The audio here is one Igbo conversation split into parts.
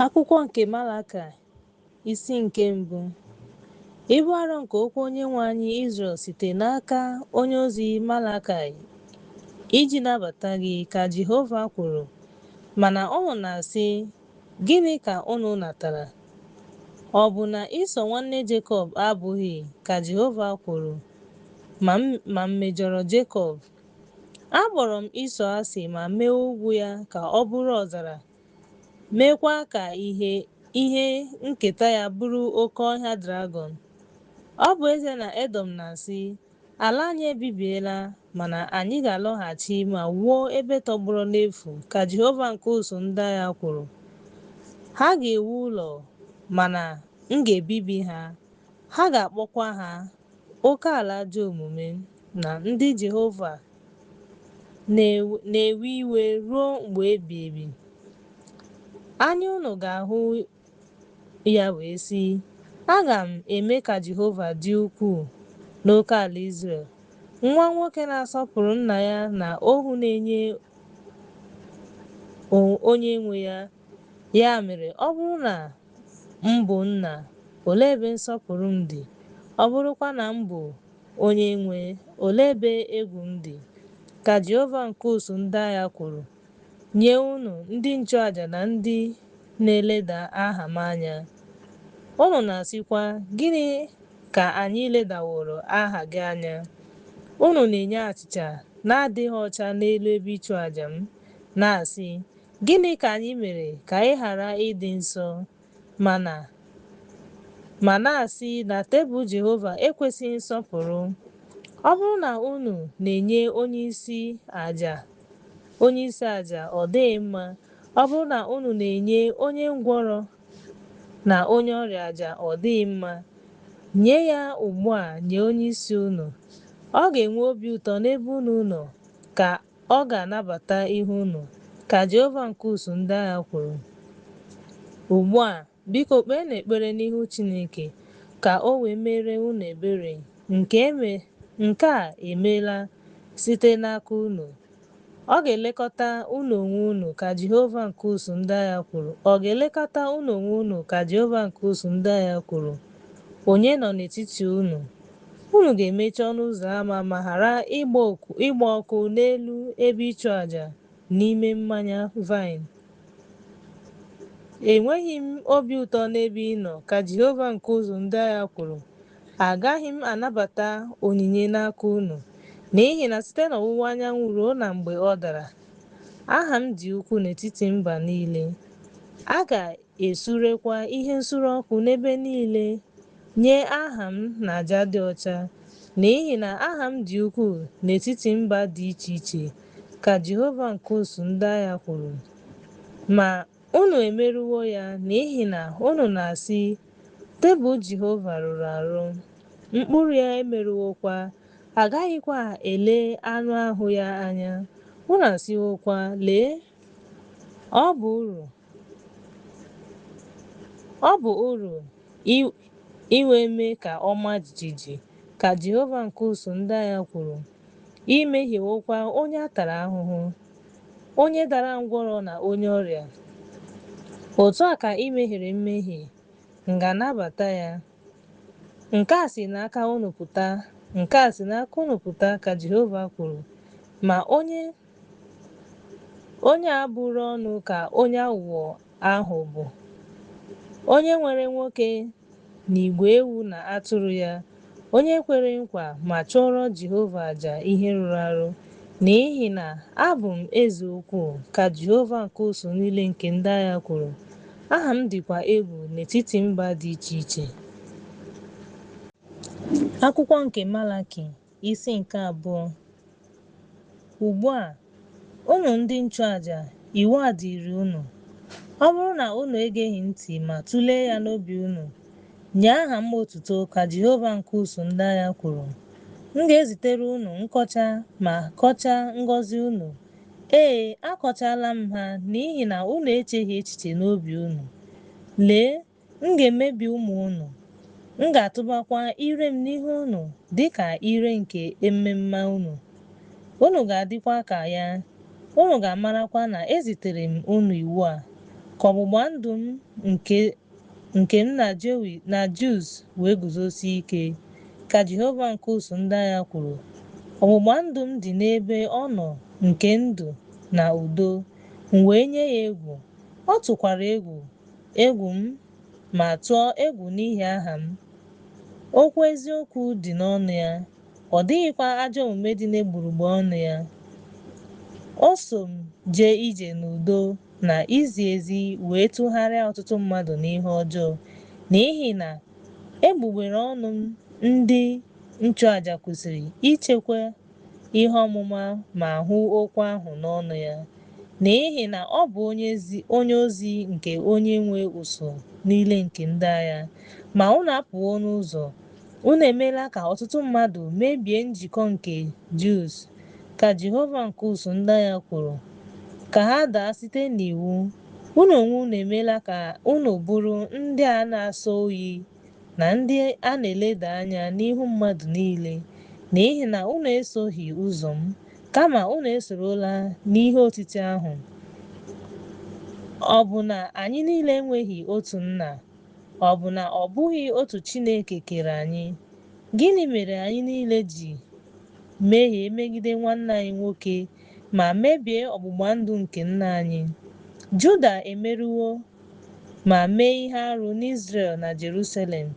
Akwụkwọ nke Malakaị, isi nke mbụ. Ibu arọ nke okwu Onyenwe anyị Izrel site n'aka onye ozi Malakaị iji nabata gị, ka Jehova kwuru. Mana unu na-asị, Gịnị ka unu natara? Ọ bụ na Ịsọ nwanne Jekọb abụghị, ka Jehova kwuru, ma m mejọrọ Jekọb? Akpọrọ m Ịsọ asị ma mee ugwu ya ka ọ bụrụ ọzara meekwa ka ihe ihe nketa ya bụrụ oke ọhịa dragọn. Ọ bụ ezie na Edọm na-asị, Ala anyị ebibiela, mana anyị ga-alọghachi ma wuo ebe tọgbọrọ n'efu, ka Jehova nke usuu ndị agha kwuru. Ha ga-ewu ụlọ, mana m ga-ebibi ha, ha ga-akpọkwa ha Oke ala ajọ omume na ndị Jehova na-ewe iwe ruo mgbe ebighị ebi. Anya unu ga-ahụ ya wee sị, Aga m eme ka Jehova dị ukwuu n'oke ala Izrel. Nwa nwoke na-asọpụrụ nna ya na ohu na-enye onye nwe ya Ya mere, ọ bụrụ na m bụ nna, olee ebe nsọpụrụ m dị? Ọ bụrụkwa na m bụ onyenwe, olee ebe egwu m dị? Ka Jehova nke usuu ndị agha kwuru. Nye unu, ndị nchụaja na ndị na-eleda aha m anya. Unu na-asịkwa, Gịnị ka anyị ledaworo aha gị anya? Unu na-enye achịcha na-adịghị ọcha n'elu ebe ịchụaja m, na-asị, Gịnị ka anyị mere ka ị ghara ịdị nsọ ma na ma na-asị na tebụl Jehova ekwesịghị nsọpụrụ? Ọ bụrụ na unu na-enye onye isi aja onye isi aja ọ dịghị mma, ọ bụrụ na unu na-enye onye ngwọrọ na onye ọrịa aja ọ dịghị mma, nye ya ugbu a nye onye isi unu. Ọ ga-enwe obi ụtọ n'ebe unu nọ, ka Ọ ga-anabata ihe unu, ka Jehova nke usuu ndị agha kwuru. Ugbu a, biko, kpeenụ ekpere n'ihu Chineke ka o wee meere unu ebere nke a emeela site n'aka unu. Ọ ga-elekọta unu onwe unu, ka Jehova nke usuu ndị agha kwuru. Ọ ga-elekọta unu onwe unu, ka Jehova nke usuu ndị agha kwuru, onye nọ n'etiti unu. Unu ga-emechi ọnụ ụzọ ama ma ghara ịgba ọkụ n'elu ebe ịchụaja n'ime mmanya vaịn. Enweghị m obi ụtọ n'ebe ị nọ, ka Jehova nke ụsụụ ndị agha kwuru. Agaghị m anabata onyinye n'aka unu, n'ihi na site n'ọwụwa anyanwụ ruo na mgbe ọ dara, aha m dị ukwu n'etiti mba niile. A ga esurekwa ihe nsure ọkụ n'ebe niile nye aha m na aja dị ọcha, n'ihi na aha m dị ukwuu n'etiti mba dị iche iche, ka Jehova nke ụsụụ ndị agha kwuru. Ma, unu emerụwo ya n'ihi na unu na-asị, Tebụl Jehova rụrụ arụ, mkpụrụ ya emerụwokwa, a gaghịkwa ele anụ ahụ ya anya. Unu asịwokwa, Lee! Ọ bụ uru Ọ bụ uru iwe mee ka ọ maa jijiji, ka Jehova nke ụsụụ ndị agha kwuru, i mehiewokwa onye a tara ahụhụ, onye dara ngwọrọ na onye ọrịa. Otu a ka i mehiere mmehie, m ga-anabata ya. Nke a si n'aka unu pụta, nke a si n'aka unu pụta, ka Jehova kwuru, ma onye Onye a bụrụ ọnụ ka onye aghụghọ ahụ bụ, onye nwere nwoke n'igwe ewu na atụrụ ya, onye kwere nkwa ma chụọrọ Jehova aja ihe rụrụ arụ. N'ihi na abụ m eze ukwu, ka Jehova nke ụsụụ niile nke ndị agha kwuru, aha m dịkwa egwu n'etiti mba dị iche iche. Akwụkwọ nke Malaki Isi nke abụọ. Ugbu a, unu ndị nchụaja, iwu a dịịrị unu, Ọ bụrụ na unu egeghị ntị ma tụlee ya n'obi unu, nye aha m otuto, ka Jehova nke ụsụụ ndị agha kwuru, m ga-ezitere unu nkọcha ma kọchaa ngọzi unu, ee, akọchaala m ha n'ihi na unu echeghị echiche n'obi unu. Lee! M ga-emebi ụmụ unu, m ga-atụbakwa ire m n'ihu unu dị ka ire nke ememma unu. Unu ga-adịkwa ka ya, unu ga-amarakwa na ezitere m unu iwu a, ka ọgbụgba ndụ m nke m na Jus wee guzosie ike, ka Jehova nke ụsụụ ndị agha kwuru. Ọgbụgba ndụ m dị n'ebe ọ nọ nke ndụ na udo, m wee nye ya egwu, ọ tụkwara egwu, Egwu m, ma tụọ egwu n'ihi aha m. Okwu eziokwu dị n'ọnụ ya, ọ dịghịkwa ajọ omume dị n'egbugbere ọnụ ya. O so m jee ije n'udo na izi ezi wee tụgharịa ọtụtụ mmadụ n'ihe ọjọọ, n'ihi na egbugbere ọnụ m ndị nchụaja kwesịrị ichekwa ihe ọmụma ma hụ okwu ahụ n'ọnụ ya, n'ihi na ọ bụ onye ezi onye ozi nke onye nwe usuu niile nke ndị agha. Ma unu apụwo n'ụzọ, unu emeela ka ọtụtụ mmadụ mebie njikọ nke Jus, ka Jehova nke usuu ndị agha kwuru, ka ha daa site n'iwu. Unu onwe unu emeela ka unu bụrụ ndị a na-asọ oyi na ndị a na-eleda anya n'ihu mmadụ niile, n'ihi na unu esoghị ụzọ m, kama unu esorola n'ihe otiti ahụ. Ọ bụ na anyị niile enweghị otu nna? Ọ bụ na ọ bụghị otu Chineke kere anyị? Gịnị mere anyị niile ji mehie megide nwanne anyị nwoke ma mebie ọgbụgba ndụ nke nna anyị? Juda emerụwo ma mee ihe arụ n'Izrel na Jerusalem,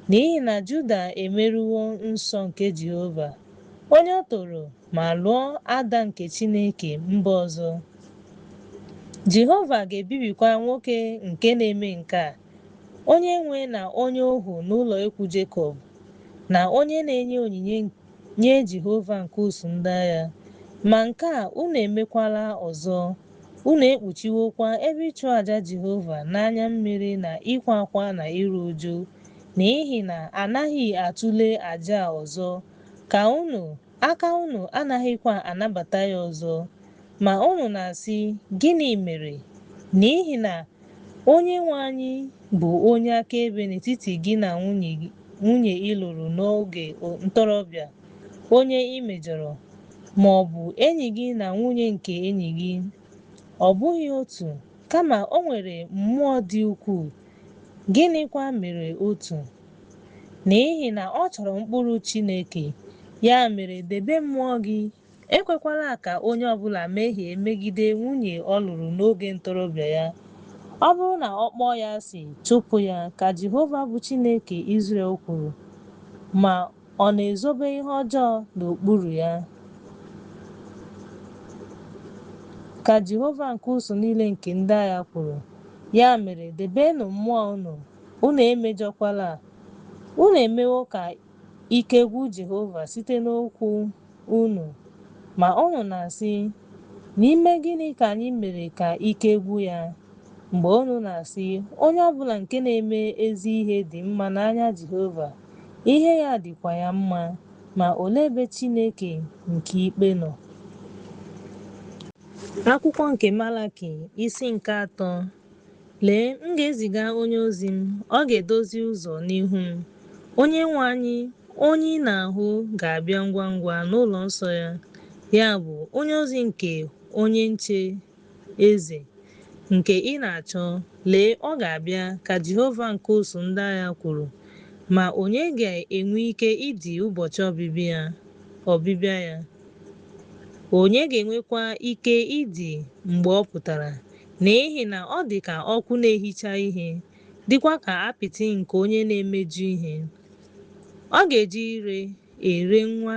n'ihi na Juda emerụwo nsọ nke Jehova, onye o toro, ma lụọ ada nke chineke mba ọzọ. Jehova ga-ebibikwa nwoke nke na-eme nke a, onye nwe na onye ohu n'ụlọ ikwu Jekọb, na onye na-enye onyinye nye Jehova nke usuu ndị agha, ma nke a unu emekwala ọzọ. Unu ekpuchiwokwa ebe ịchụaja Jehova n'anya mmiri na ịkwa akwa na iru uju, n'ihi na a naghị atụle aja ọzọ, ka unu, aka unu anaghịkwa anabata ya ọzọ. Ma unu na-asị, Gịnị mere? N'ihi na Onyenwe anyị bụ onye akaebe n'etiti gị na nwunye ị lụrụ n'oge ntorobịa, onye ị mejọrọ, ma ọ bụ enyi gị na nwunye nke enyi gị. Ọ bụghị otu, kama o nwere mmụọ dị ukwuu. Gịnịkwa mere otu? N'ihi na ọ chọrọ mkpụrụ Chineke, ya mere debe mmụọ gị Ekwekwala ka onye ọ bụla mehie megide nwunye ọ lụrụ n'oge ntorobịa ya. Ọ bụrụ na ọ kpọọ ya asị, chụpụ ya, ka Jehova bụ Chineke Izrel kwuru, ma ọ na-ezobe ihe ọjọọ n'okpuru ya. Ka Jehova nke usuu niile nke ndị agha kwuru, Ya mere, debenụ mmụọ unu, unu emejọkwala, unu emewo ka Ike gwụ Jehova site n'okwu unu. Ma unu na-asị, N'ime gịnị ka anyị mere ka ike gwụ ya? Mgbe unu na-asị, Onye ọ bụla nke na-eme ezi ihe dị mma n'anya Jehova, ihe ya dịkwa ya mma, ma olee ebe Chineke nke ikpe nọ? Akwụkwọ nke Malaki, isi nke atọ. Lee, m ga-eziga onye ozi m, ọ ga-edozi ụzọ n'ihu m. Onyenwe anyị, onye ị na-ahụ ga-abịa ngwa ngwa n'ụlọ nsọ ya, ya bụ, onye ozi nke onye nche eze nke ị na-achọ, lee, ọ ga-abịa, ka Jehova nke usuu ndị agha kwuru. Ma onye ga-enwe ike idi ụbọchị ọbịbịa ya? Onye ga-enwekwa ike idi mgbe ọ pụtara? N'ihi na ọ dị ka ọkụ na-ehicha ihe, dịkwa ka apịtị nke onye na-emeju ihe. Ọ ga-eji ire ere nwa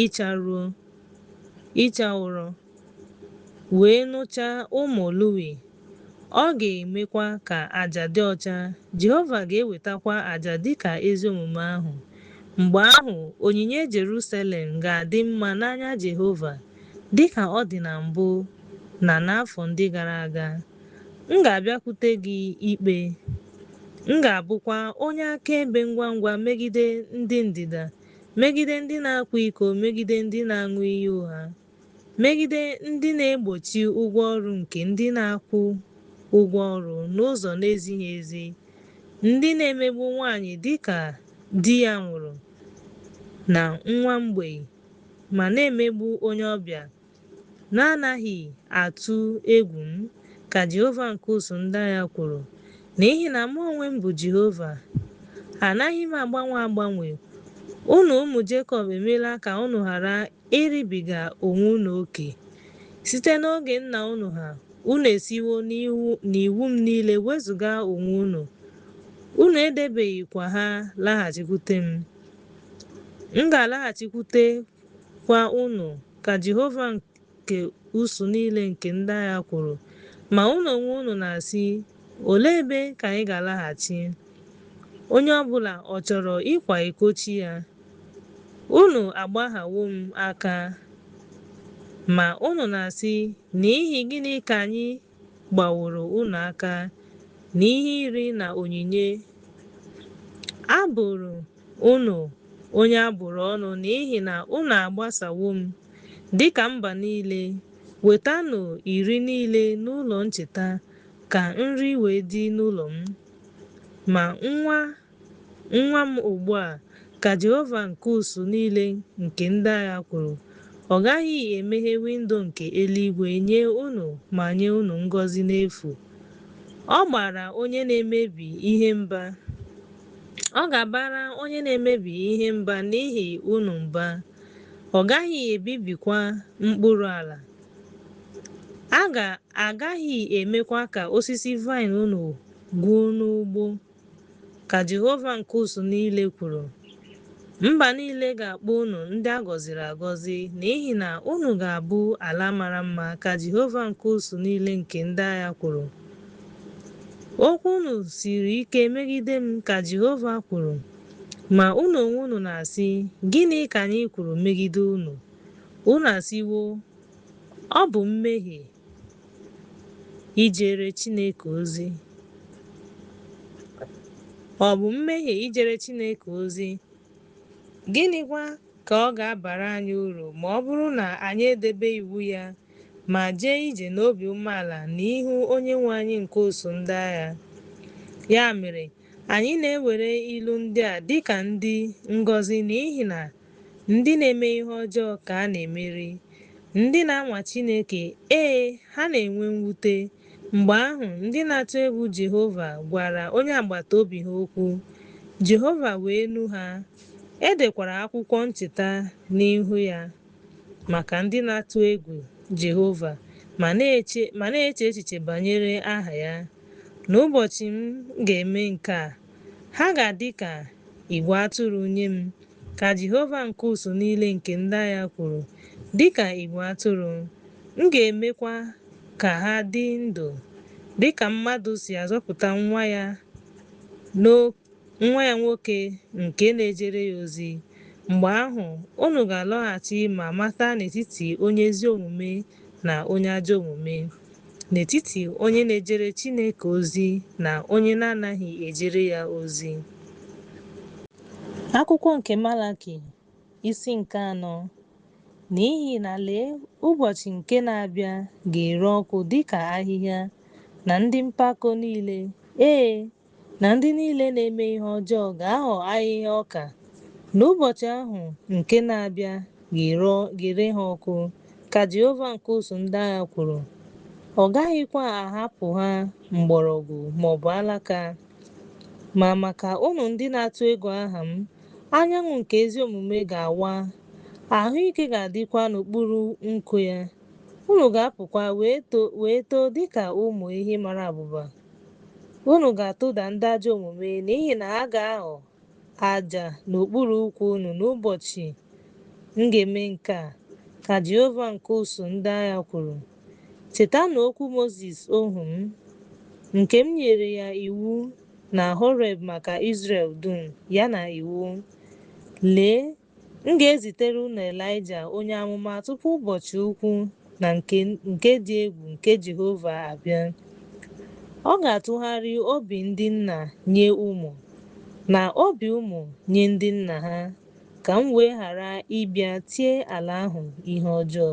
ịcha ruo ịcha ụrọ, wee nụchaa ụmụ Lewi, ọ ga-emekwa ka aja dị ọcha, Jehova ga-ewetakwa aja dị ka ezi omume ahụ. Mgbe ahụ, onyinye Jerusalem ga-adị mma n'anya Jehova. Dị ka ọ dị na mbụ na n'afọ ndị gara aga, m ga-abịakwute gị ikpe, m ga-abụkwa onye akaebe ngwa ngwa megide ndị ndịda, megide ndị na-akwa iko, megide ndị na-aṅụ iyi ụgha, megide ndị na-egbochi ụgwọ ọrụ nke ndị na-akwụ ụgwọ ọrụ n'ụzọ na-ezighị ezi, ndị na-emegbu nwanyị dị ka di ya nwụrụ na nwa mgbei. ma na-emegbu onye ọbịa na-anaghị atụ egwu m, ka Jehova nke usuu ndị agha kwuru. N'ihi na mụ onwe m bụ Jehova, anaghị m agbanwe agbanwe. Unu ụmụ Jekọb emeela ka unu ghara iribiga onwe unu oke. Site n'oge nna unu ha, unu esiwo n'iwu m niile wezụga onwe unu, unu edebeghịkwa ha. Laghachikwute m. M ga-alaghachikwutekwa unu, ka Jehova nke usuu niile nke ndị agha kwuru. Ma unu onwe unu na-asị, Olee ebe ka anyị ga-alaghachi? Onye ọ bụla ọ chọrọ ịkwa iko chi ya? Unu agbaghawo m aka. Ma unu na-asị, N'ihi gịnị ka anyị gbaworo unu aka n'ihe iri na onyinye, abụrụ unu onye a bụrụ ọnụ n'ihi na unu agbasawo m dịka mba niile, wetanụ iri niile n'ụlọ ncheta ka nri wee dị n'ụlọ m. Ma nwa Nwaa m ugbu a, ka Jehova nke usuu niile nke ndị agha kwuru, ọ gaghị emeghe windo nke eluigwe nye unu ma nye unu ngọzi n'efu. Ọ gbara onye na-emebi ihe mba. Ọ ga-abara onye na-emebi ihe mba n'ihi unu mba. Ọ gaghị ebibikwa mkpụrụ ala. A ga-agaghị emekwa ka osisi vaịn unu gwụọ n'ugbo. Ka Jehova nke usuu niile kwuru, Mba niile ga-akpọ unu ndị a gọziri agọzi, n'ihi na unu ga-abụ ala mara mma, ka Jehova nke usuu niile nke ndị agha kwuru. Okwu unu siri ike megide m, ka Jehova kwuru, ma unu onwe unu na-asị, Gịnị ka anyị kwuru megide unu? Unu asịwo, Ọ bụ mmehie. ijere Chineke ozi? Ọ bụ mmehie ijere Chineke ozi? Gịnịkwa ka ọ ga-abara anyị uru ma ọ bụrụ na anyị edebe iwu ya ma jee ije n'obi umeala n'ihu Onyenwe anyị nke usuu ndị agha? Ya mere, anyị na-ewere ilu ndị a dịka ndị ngọzi n'ihi na Ndị na-eme ihe ọjọọ ka a na-emeri. Ndị na-anwa Chineke, ee, ha na-enwe mwute. Mgbe ahụ, ndị na-atụ egwu Jehova gwara onye agbata obi ha okwu, Jehova wee nụ ha. E dekwara akwụkwọ ncheta n'ihu ya maka ndị na-atụ egwu Jehova ma na-eche ma na-eche echiche banyere aha ya. N'ụbọchị m ga-eme nke a, Ha ga-adị ka igwe atụrụ nye m, ka Jehova nke usuu niile nke ndị agha kwuru, dị ka igwe atụrụ. M ga-emekwa ka ha dị ndụ, dị ka mmadụ si azọpụta nwa ya nwa ya nwoke nke na-ejere ya ozi. Mgbe ahụ, unu ga-alọghachi ma mata n'etiti onye ezi omume na onye ajọ omume, n'etiti onye na-ejere Chineke ozi na onye na-anaghị ejere ya ozi. Akwụkwọ nke Malaki, isi nke anọ, N'ihi na lee, ụbọchị nke na-abịa ga-ere ọkụ dịka ahịhịa, na ndị mpako niile, ee, na ndị niile na-eme ihe ọjọọ ga-aghọ ahịhịa ọka, na ụbọchị ahụ nke na-abịa ga-ere ga-ere ha ọkụ, ka Jehova nke usuu ndị agha kwuru. Ọ gaghịkwa ahapụ ha mgbọrọgwụ ma ọ bụ alaka. Ma maka unu ndị na-atụ egwu aha m, anyanwụ nke ezi omume ga-awa, ahụ ike ga-adịkwa n'okpuru nku ya. Unu ga-apụkwa wee too wee too dịka ụmụ ehi mara abụba. Unu ga-atụda ndị ajọ omume n'ihi na ha ga-aghọ aja n'okpuru ụkwụ unu n'ụbọchị m ga-eme nke a, ka Jehova nke ụsụụ ndị agha kwuru. Chetanụ okwu Mozis ohu m, nke m nyere ya iwu na Horeb maka Izrel dum, ya na iwu. Lee! M ga-ezitere unu Elaịja onye amụma tupu ụbọchị ukwu na nke dị egwu nke Jehova abịa. Ọ ga-atụgharị obi ndị nna nye ụmụ, na obi ụmụ nye ndị nna ha, ka m wee ghara ịbịa tie ala ahụ ihe ọjọọ.